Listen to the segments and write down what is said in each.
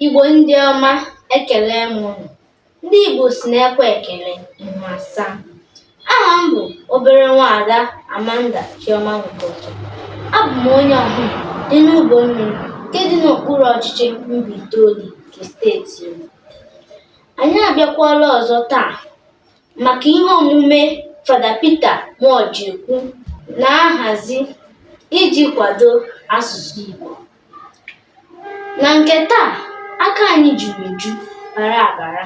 Igbo ndị ọma ekele m ụnụ. Ndị Igbo sị na e kwe ekele ihu asaa. Aha m bụ obere nwaada Amanda Chioma Nwokocha. Abụ m onye Ọhụm dị n'Ubomiri nke dị n'okpuru ọchịchị Mbaitoli nke steeti Imo. Anyị abịakwala ọzọ taa maka ihe omume Fada Peter Muojekwu na-ahazi iji kwado asụsụ Igbo. Na nke taa, aka anyị juru eju bara abara.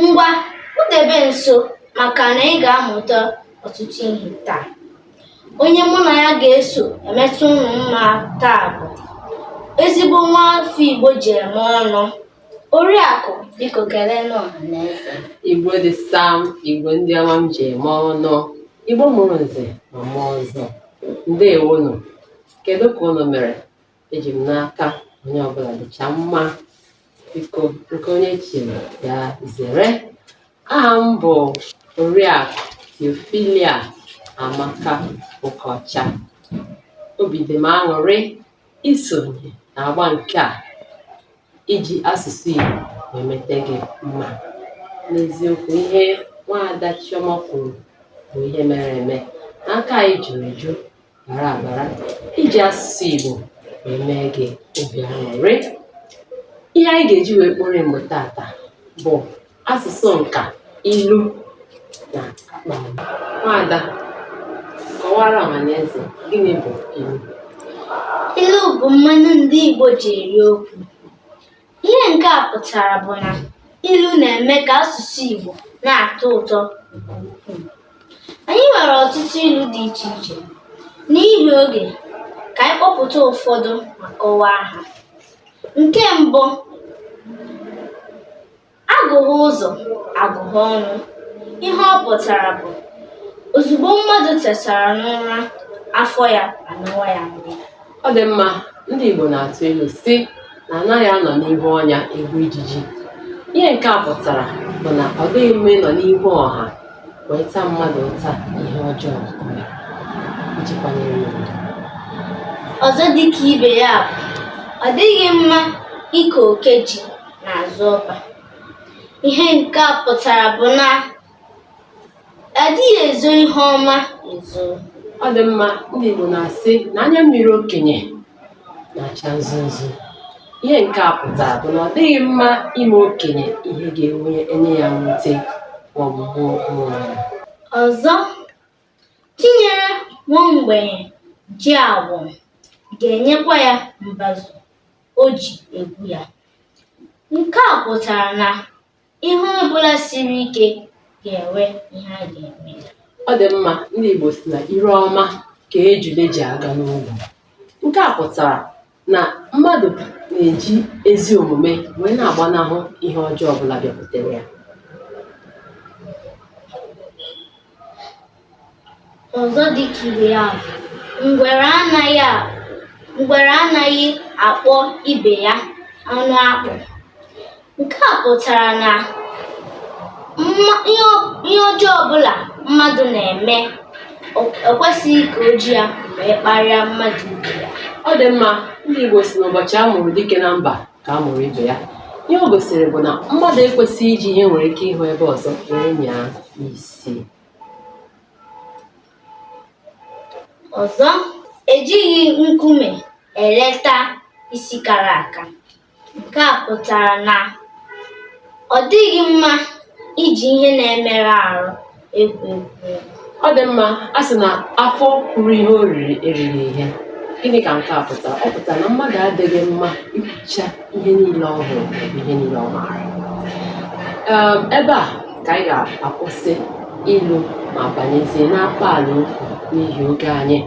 Ngwa kpudebe nso maka na ị ga-amụta ọtụtụ ihe taa. Onye mụ na ya ga-eso emetụ ụnụ mma taa bụ ezigbo nwa afọ Igbo ji eme ọnụ. Oriakụ biko kelee ọha na eze. Igbo dị sam, Igbo ndị ọma m ji eme ọnụ, Igbo mụrụ nze ma mụọ ọzọ. Ndewonụ. Kedụ ka ụnụ mere? Eji m n'aka onye ọbụla dịcha mma. Biko nke onye chiri ya zere. Aha m bụ Oriakụ Theophilia Amaka Okocha. Obi dị m aṅụrị isonye n'agba nke a iji asụsụ Igbo emete gị mma. N'eziokwu ihe nwaada Chioma kwuru bụ ihe mere eme na aka anyị juru eju bara abara iji asụsụ Igbo wee mee gị obi aṅụrị. Ihe anyị ga-eji wee kporie mgbe tata bụ asụsụ nka ilu na akpaalaokwu. Nwaada, kọwaara ọhaneze gịnị bụ ilu? Ilu bụ mmanụ ndị Igbo ji eri okwu. Ihe nke a pụtara bụ na ilu na-eme ka asụsụ Igbo na-atọ ụtọ nke ukwuu. Anyị nwere ọtụtụ ilu dị iche iche. N'ihi oge, ka anyị kpọpụta ụfọdụ ma kọwaa ha. Nke mbụ, Agụhe ụzọ agụhe ọnụ. Ihe ọ pụtara bụ ozugbo mmadụ tetara n'ụra, afọ ya anawa ya nri. Ọ dị mma, ndị Igbo na-atụ ilu sị na anaghị anọ n'ihu ọnya egbu ijiji. Ihe nke a pụtara bụ na ọ dịghị mma ịnọ n'ihu ọha wee taa mmadụ ụta ihe ọjọọ o mere iji kwanyere ya ugwu. Ọzọ dịka ibe ya bụ ọ dịghị mma ike oke ji n'azụ ọba ihe nke a pụtara bụ na adịghị ezo ihe ọma ezo ọ dị mma ndị Igbo na-asị na anya mmiri okenye na-acha nzu nzu ihe nke a pụtara bụ na ọ dịghị mma ime okenye ihe ga-enwe enye ya mwute maọbụ gbuo onwe ya ọzọ chi nyere nwa mgbenye ji awọm ga-enyekwa ya mbazụ o ji egwu ya. Nke a pụtara na ihe ọ bụla siri ike ga-enwe ihe a ga-eme ya. Ọ dị mma ndị Igbo sị na ire ọma ka ejule ji aga n'ogwu. Nke a pụtara na mmadụ na-eji ezi omume wee na-agbanahụ ihe ọjọọ ọbụla bịakwutere ya. ọzọ dị ka ibe ya bụ ngwere anaghị a- ngwere anaghị akpọ ibe ya anụ akpụ nke a pụtara na mma- ihe ọ- ihe ọjọọ ọbụla mmadụ na-eme o- ekwesịghị ka o ji ya wee kparịa mmadụ ibe ya Ọ dị mma, ndị Igbo sị n'ụbọchị a mụrụ dike na mba ka a mụrụ ibe ya ihe o gosiri bụ na mmadụ ekwesịghị iji ihe nwere ike ịhụ ebe ọzọ wee nyaa isi Ọzọ, ejighị nkume eleta isi kara aka. Nke a pụtara na ọ dịghị mma iji ihe na-emerụ ahụ Ọ dị mma, a sị na afọ kwuru ihe o riri e riri ihe. Gịnị ka nke a pụtara? Ọ pụtara na mmadụ adịghị mma ikwucha ihe niile ọ hụrụ maọbụ ihe niile ọ maara. Ee, ebe a ka anyị ga-akwụsị ilu ma banyezie n'akpaala okwu n'ihi oge anyị.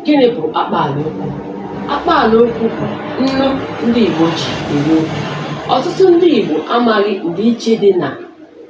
Gịnị bụ akpaala okwu? Akpaala okwu bụ nnu ndị Igbo ji eri okwu. Ọtụtụ ndị Igbo amaghị ndịiche dị na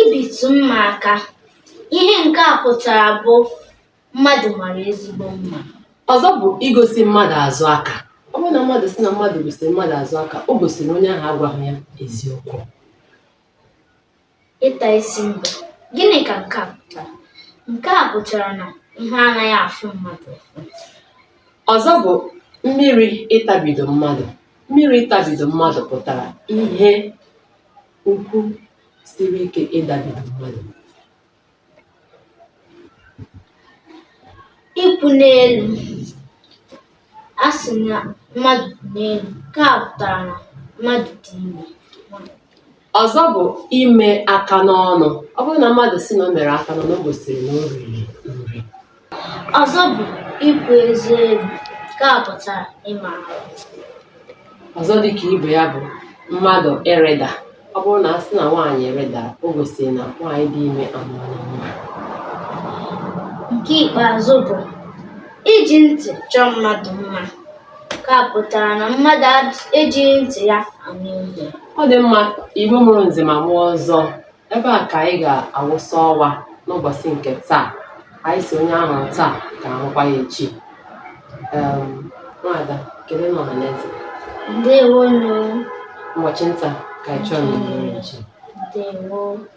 Ibitụ mma aka, ihe nke a pụtara bụ mmadụ mara ezigbo mma. Ọzọ bụ igosi mmadụ azụ aka. Ọ bụrụ na mmadụ sị na mmadụ gosiri mmadụ azụ aka, o gosiri na onye ahụ agwaghị ya eziokwu. Ịta isi mbe. Gịnị ka nke a pụtara? Nke a pụtara na ihe anaghị afụ mmadụ ụfụ. Ọzọ bụ mmiri ịtabido mmadụ. Mmiri ịtabido mmadụ pụtara ihe Ukwu siri ike ịdabido mmadụ. Ịkwụ n'elu. A sị na mmadụ kwụ n'elu, nke a pụtara na mmadụ dị ime. Ọzọ bụ ime aka n'ọnụ. Ọ bụrụ na mmadụ sị na o mere aka n'ọnụ, o gosiri na o riri nri. Ọzọ bụ ipu eze elu nke a pụtara ime arụ. Ọzọ dị ka ibe ya bụ mmadụ ịrịda. Ọ bụrụ na a sị na nwaanyị rịdara, o gosiri na nwaanyị dị ime amụọla nwa. Nke ikpeazụ bụ iji ntị chọọ mmadụ mma nke a pụtara na mmadụ ad- ejighị ntị ya anụ ihe. Ọ dị mma Igbo mụrụ nze ma mụọ ọzọ Ebe a ka anyị ga-awụsa ọwa n'ụbọchị nke taa. Anyị sị onye a hụrụ taa ka a hụkwa ya echi. Um, Nwada, keleenụ ọha na eze. Ndewo nụ. Ụbọchị nta ka anyị chụọ na nchi. Ndewo.